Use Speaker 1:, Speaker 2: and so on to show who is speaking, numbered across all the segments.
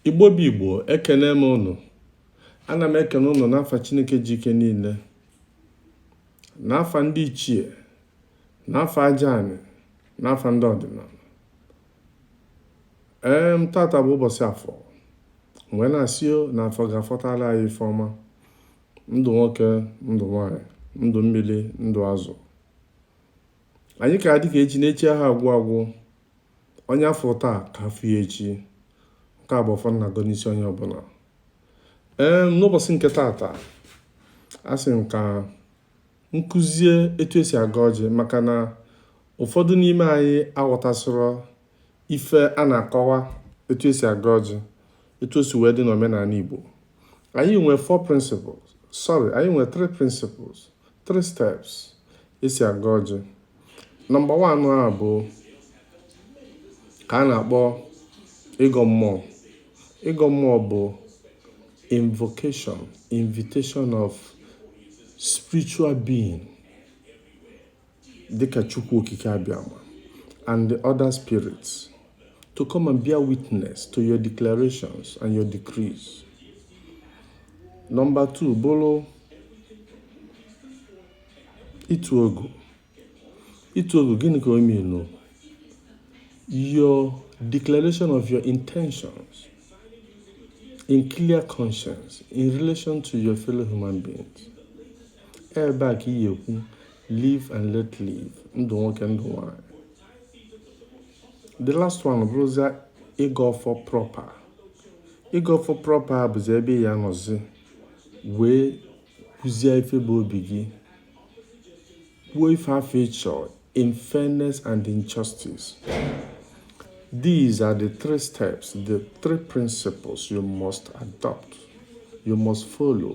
Speaker 1: igbo bụ igbo ekene m unu ana m ekene unu n'afa chineke ji ike niile n'afa ndị ichie n'afa aja anị n'afa ndị ọdịnanị ee m tata bụ ụbọsị afọ m wee na-asị na afọ ga-afọtara anyị ife ọma ndụ nwoke ndụ nwanyị ndụ mmili ndụ azụ anyị ga-adị ka echi na echi aha agwụ agwụ onye a fụ taa ka a fụ ya echi nke a bụ ọfọ m na-agọ n'isi onye ọbụna ee n'ụbọsị nke taata a sị m ka m kụzie etu esi agọ ọjị maka na ụfọdụ n'ime anyị aghọtasịrọ ife a na-akọwa etu esi agọ ọjị etu o si wee dị n'omenanị Igbo anyị nwee four principles sorry anyị nwee three principles three steps esi agọ ọjị nọmba one a bụ nke a na-akpọ ịgọ mmụọ ịgọ mmụọ bụ invocation invitation of spiritual being dịka Chukwu Okike Abịama and the other spirits to come and bear witness to your declarations and your decrees. Number two, bụrụ ịtụ ogu. Ịtụ ogu gịnị ka o mean? Your declaration of your intentions in clear conscience in relation to your fellow human beings. Ebe a ka ị ya-ekwu live and let live ndụ nwoke ndụ nwanyị the last one bụrụzia ịgọ ọfọ proper ịgọ ọfọ proper bụzi ebe ị ya-anọzi wee kwuzie ife bụ obi gị kwuo ife afụ ị chọ in fairness and in justice these are the three steps the three principles you must adopt you must follow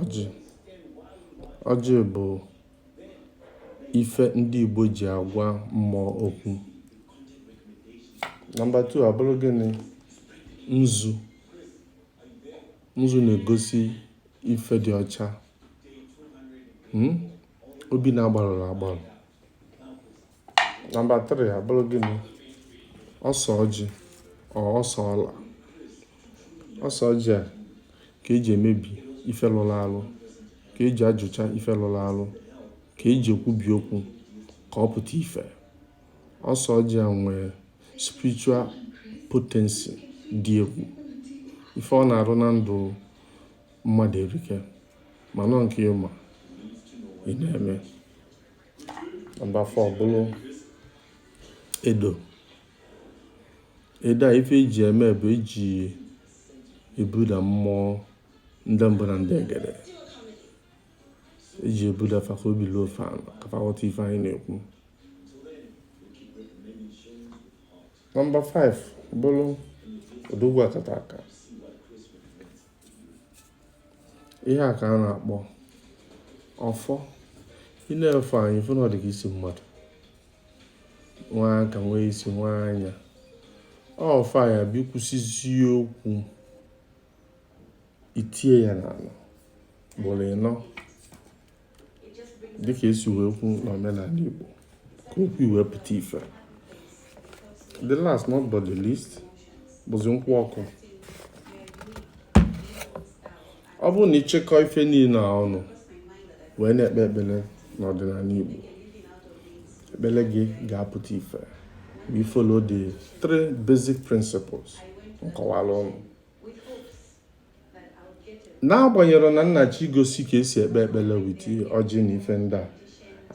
Speaker 1: Ọjị ọjị bụ ife ndị Igbo ji agwa mmụọ okwu. Nọmba 2 abụrụ gịnị? Nzu. Nzu na-egosi ife dị ọcha. Hmm? Obi na-agbarụrọ agbarụ. nọmba 3 abụrụ gịnị ose ọjị ose ọla ose ọjị a ka eji emebi ife lụlụ alụ ka eji ajụcha ife lụlụ alụ ka eji ekwubi okwu ka ọ pụta ife ose ọjị a nwee spiritual potency dị egwu ife ọ na-arụ na ndụ mmadụ erika mana ọ nke ị ma ị na-eme nọmba 4 bụrụ edo edo a ife eji eme bụ eji ebuda mmụọ ndị mbụ na ndị egede eji ebuda fa ka obi luo fa ana ka fa ghọta ife anyị na-ekwu nọmba 5 bụrụ odogwu akataka ihe a ka a na-akpọ ọfọ ị nee ọfọ anya ị fụ na ọ dị ka isi mmadụ nwee aka nwee isi nwee anya ọfọ a ya bụ i kwusịzie okwu i tie ya n'ana ugboro ịnọ dịka esi wee kwu n'omenala Igbo ka okwu ị wee pụta ife the last not but the least bụzi nkwụ ọkụ ọ bụrụ na ị chịkọọ ife niile a ọnụ wee na-ekpe ekpele n'ọdịnala Igbo ekpele gị ga-apụta ife wee follow the three basic principles m kọwara unu n'agbanyeghị na m na-achọ igosi ka esi ekpe ekpele with ọjị na ife ndị a